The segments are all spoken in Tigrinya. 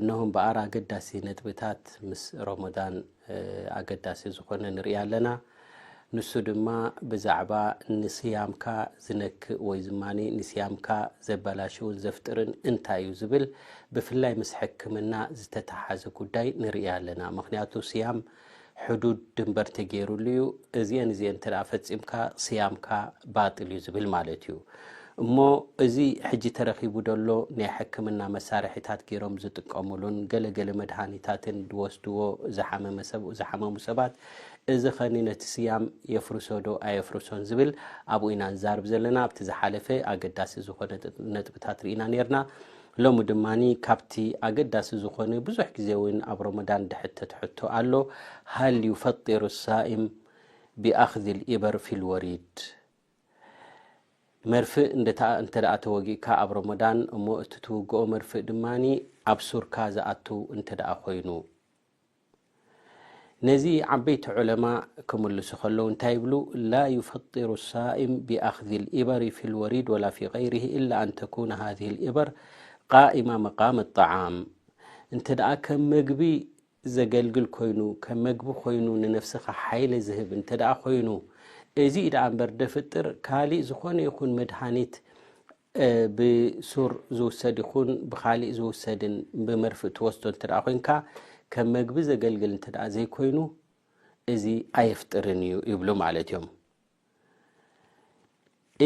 እነሆ እምበኣር ኣገዳሲ ነጥብታት ምስ ሮሞዳን ኣገዳሲ ዝኾነ ንርኢ ኣለና ንሱ ድማ ብዛዕባ ንስያምካ ዝነክእ ወይ ድማ ንስያምካ ዘበላሽውን ዘፍጥርን እንታይ እዩ ዝብል ብፍላይ ምስ ሕክምና ዝተተሓዘ ጉዳይ ንርኢ ኣለና ምክንያቱ ስያም ሕዱድ ድንበር ተገይሩሉ እዩ እዚኤን እዚኤን እንተ ፈፂምካ ስያምካ ባጥል እዩ ዝብል ማለት እዩ እሞ እዚ ሕጂ ተረኪቡ ዘሎ ናይ ሕክምና መሳርሒታት ገይሮም ዝጥቀምሉን ገለገለ መድሃኒታትን ዝወስድዎ ዝሓመሙ ሰባት እዚ ኸኒ ነቲ ስያም የፍርሶ ዶ ኣየፍርሶን ዝብል ኣብኡ ኢና ንዛርብ ዘለና ኣብቲ ዝሓለፈ ኣገዳሲ ዝኾነ ነጥብታት ርኢና ነርና ሎሚ ድማ ካብቲ ኣገዳሲ ዝኾነ ብዙሕ ግዜ እውን ኣብ ሮሞዳን ድሕተት ሕቶ ኣሎ ሃል ዩፈጢሩ ሳኢም ቢኣኽዚ ልኢበር ፊልወሪድ መርፍእ እንተ ተወጊእካ ኣብ ሮሞዳን እሞ እቲ ትውግኦ መርፍእ ድማ ኣብ ሱርካ ዝኣቱ እንተ ኮይኑ ነዚ ዓበይቲ ዑለማ ክምልሱ ከለዉ እንታይ ይብሉ ላ ዩፈጢሩ ሳኢም ቢኣኽዚ ልኢበሪ ፊ ልወሪድ ወላ ፊ ገይሪሂ ኢላ ኣን ተኩነ ሃዚህ ልኢበር ቃኢማ መቃመ ጣዓም እንተ ደኣ ከም መግቢ ዘገልግል ኮይኑ ከም መግቢ ኮይኑ ንነፍስኻ ሓይሊ ዝህብ እንተ ደኣ ኮይኑ እዚ ደኣ እምበር ደፍጥር ካሊእ ዝኾነ ይኹን መድሃኒት ብሱር ዝውሰድ ይኹን ብኻሊእ ዝውሰድን ብመርፍእ ትወስዶ እንተ ኮይንካ ከም መግቢ ዘገልግል እንተ ዘይኮይኑ እዚ ኣየፍጥርን እዩ ይብሉ ማለት እዮም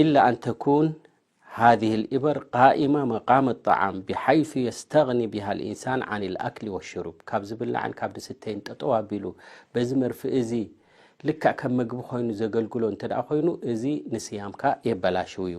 ኢላ ኣንተኩን ሃذ ልእበር ቃኢማ መቃም ጣዓም ብሓይث የስተغኒ ብሃ ልእንሳን ዓን ልኣክሊ ወሽሩብ ካብ ዝብላዕን ካብ ድስተይን ጠጠው ኣቢሉ በዚ መርፍእ እዚ ልክዕ ከም መግቢ ኮይኑ ዘገልግሎ እንተ ኮይኑ እዚ ንስያምካ የበላሽው እዩ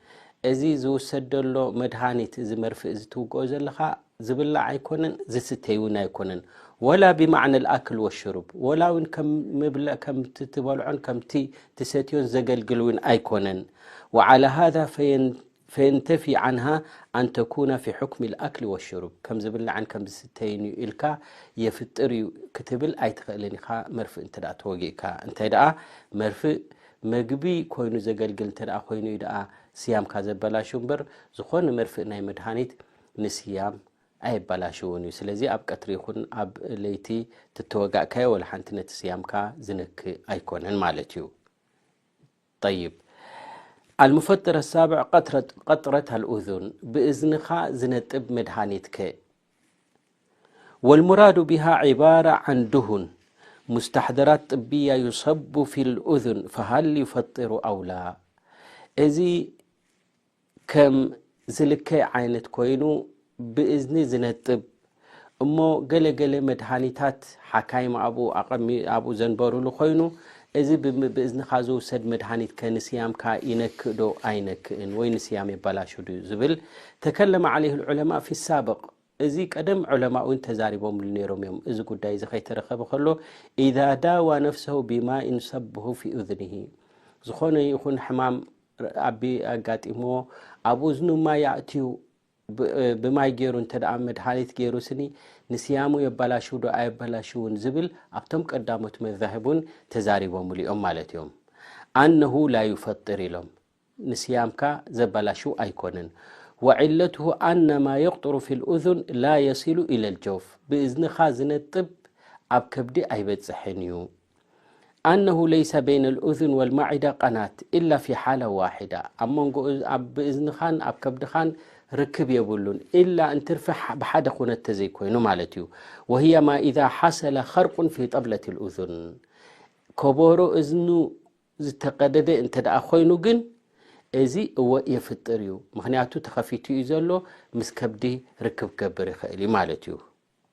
እዚ ዝውሰድ ዘሎ መድሃኒት እዚ መርፍእ እዚ ትውግኦ ዘለኻ ዝብላዕ ኣይኮነን ዝስተይ እውን ኣይኮነን ወላ ብማዕነ ልኣክል ወሽሩብ ወላ እውን ከምቲ ትበልዖን ከምቲ ትሰትዮን ዘገልግል እውን ኣይኮነን ወዓላ ሃዛ ፈየንተፊ ዓንሃ ኣንተኩና ፊ ሑክሚ ልኣክሊ ወሽሩብ ከም ዝብላዕን ከም ዝስተይን እዩ ኢልካ የፍጥር እዩ ክትብል ኣይትኽእልን ኢኻ መርፍእ እንተ ተወጊእካ እንታይ ደኣ መርፍእ መግቢ ኮይኑ ዘገልግል እንተደኣ ኮይኑ እዩ ደኣ ስያምካ ዘበላሹ እምበር ዝኾነ መርፍእ ናይ መድሃኒት ንስያም ኣየበላሽውን እዩ ስለዚ ኣብ ቀትሪ ይኹን ኣብ ለይቲ ትተወጋእካዮ ወላ ሓንቲ ነቲ ስያምካ ዝነክእ ኣይኮነን ማለት እዩ ጠይብ ኣልሙፈጥር ኣሳብዕ ቀጥረት ኣልኡዙን ብእዝንኻ ዝነጥብ መድሃኒትከ ወልሙራዱ ብሃ ዕባራ ዓን ድሁን ሙስታሕደራት ጥብያ ዩሰቡ ፊ ልእዝን ፈሃል ዩፈጢሩ ኣውላ እዚ ከም ዝልከይ ዓይነት ኮይኑ ብእዝኒ ዝነጥብ እሞ ገለገለ መድሃኒታት ሓካይም ኣብኡ ዘንበሩሉ ኮይኑ እዚ ብእዝንኻ ዝውሰድ መድሃኒት ከ ንስያምካ ይነክእ ዶ ኣይነክእን ወይ ንስያም የባላሹ ድዩ ዝብል ተከለመ ዓለይሁ ልዑለማእ ፊ ሳብቅ እዚ ቀደም ዑለማእ እውን ተዛሪቦምሉ ነይሮም እዮም እዚ ጉዳይ እዚ ከይተረኸበ ከሎ ኢዛ ዳዋ ነፍሰሁ ቢማኢን ሰብሁ ፊ እዝንሂ ዝኾነ ይኹን ሕማም ኣቢ ኣጋጢምዎ ኣብ እዝኑ ማይ ኣእትዩ ብማይ ገይሩ እንተ መድሃኒት ገይሩ ስኒ ንስያሙ የባላሽው ዶ ኣየባላሽውን ዝብል ኣብቶም ቀዳሞት መዛህብ እውን ተዛሪቦምሉ እዮም ማለት እዮም ኣነሁ ላዩፈጥር ኢሎም ንስያምካ ዘባላሽው ኣይኮነን ወዕለትሁ ኣነማ የቅጥሩ ፊ ልእዙን ላ የሲሉ ኢለ ልጀውፍ ብእዝንኻ ዝነጥብ ኣብ ከብዲ ኣይበፅሕን እዩ ኣነሁ ለይሰ በይነ ልእዝን ወልማዒዳ ቀናት ኢላ ፊ ሓላ ዋሒዳ ኣብ መንጎ ብእዝንኻን ኣብ ከብድኻን ርክብ የብሉን ኢላ እንትርፊ ብሓደ ኩነት ተዘይኮይኑ ማለት እዩ ወህያ ማ ኢዛ ሓሰለ ኸርቁን ፊ ጠብለት ልእዝን ከበሮ እዝኑ ዝተቀደደ እንተ ደኣ ኮይኑ ግን እዚ እወ የፍጥር እዩ ምክንያቱ ተኸፊቱ እዩ ዘሎ ምስ ከብዲ ርክብ ክገብር ይኽእል እዩ ማለት እዩ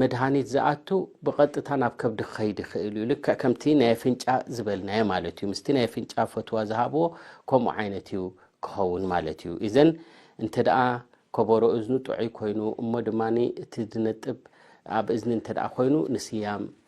መድሃኒት ዝኣቱ ብቐጥታ ናብ ከብዲ ክኸይድ ይኽእል እዩ። ልክዕ ከምቲ ናይ ኣፍንጫ ዝበልናዮ ማለት እዩ። ምስቲ ናይ ኣፍንጫ ፈትዋ ዝሃብዎ ከምኡ ዓይነት እዩ ክኸውን ማለት እዩ። ኢዘን እንተ ደኣ ከበሮ እዝኑ ጥዑይ ኮይኑ እሞ ድማ እቲ ዝነጥብ ኣብ እዝኒ እንተ ደኣ ኮይኑ ንስያም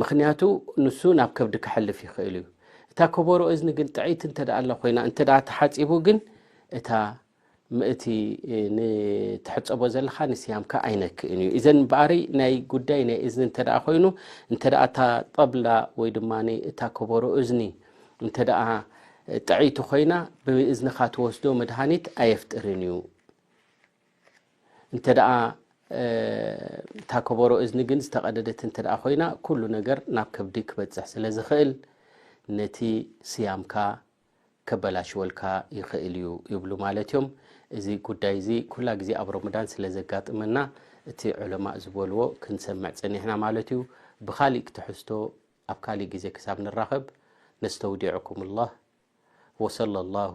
ምኽንያቱ ንሱ ናብ ከብዲ ከሕልፍ ይኽእል እዩ። እታ ከበሮ እዝኒ ግን ጥዕይቲ እንተ ኣላ ኮይና እንተ ተሓፂቡ ግን እታ ምእቲ ንትሕፀቦ ዘለካ ንስያምካ ኣይነክእን እዩ እዘን በኣሪ ናይ ጉዳይ ናይ እዝኒ እንተ ኮይኑ እንተ እታ ጠብላ ወይ ድማ እታ ከበሮ እዝኒ እንተ ጥዕይቲ ኮይና ብእዝንኻ ትወስዶ መድሃኒት ኣየፍጥርን እዩ። እንተ ደኣ እታ ከበሮ እዝኒ ግን ዝተቐደደት እንተ ደኣ ኮይና ኩሉ ነገር ናብ ከብዲ ክበጽሕ ስለ ዝኽእል ነቲ ስያምካ ከበላሽወልካ ይኽእል እዩ ይብሉ ማለት እዮም። እዚ ጉዳይ እዚ ኩላ ግዜ ኣብ ሮመዳን ስለ ዘጋጥመና እቲ ዑለማእ ዝበልዎ ክንሰምዕ ጸኒሕና ማለት እዩ ብካሊእ ክትሕዝቶ ኣብ ካሊእ ግዜ ክሳብ ንራኸብ ነስተውዲዑኩም ላህ ወሰለ ላሁ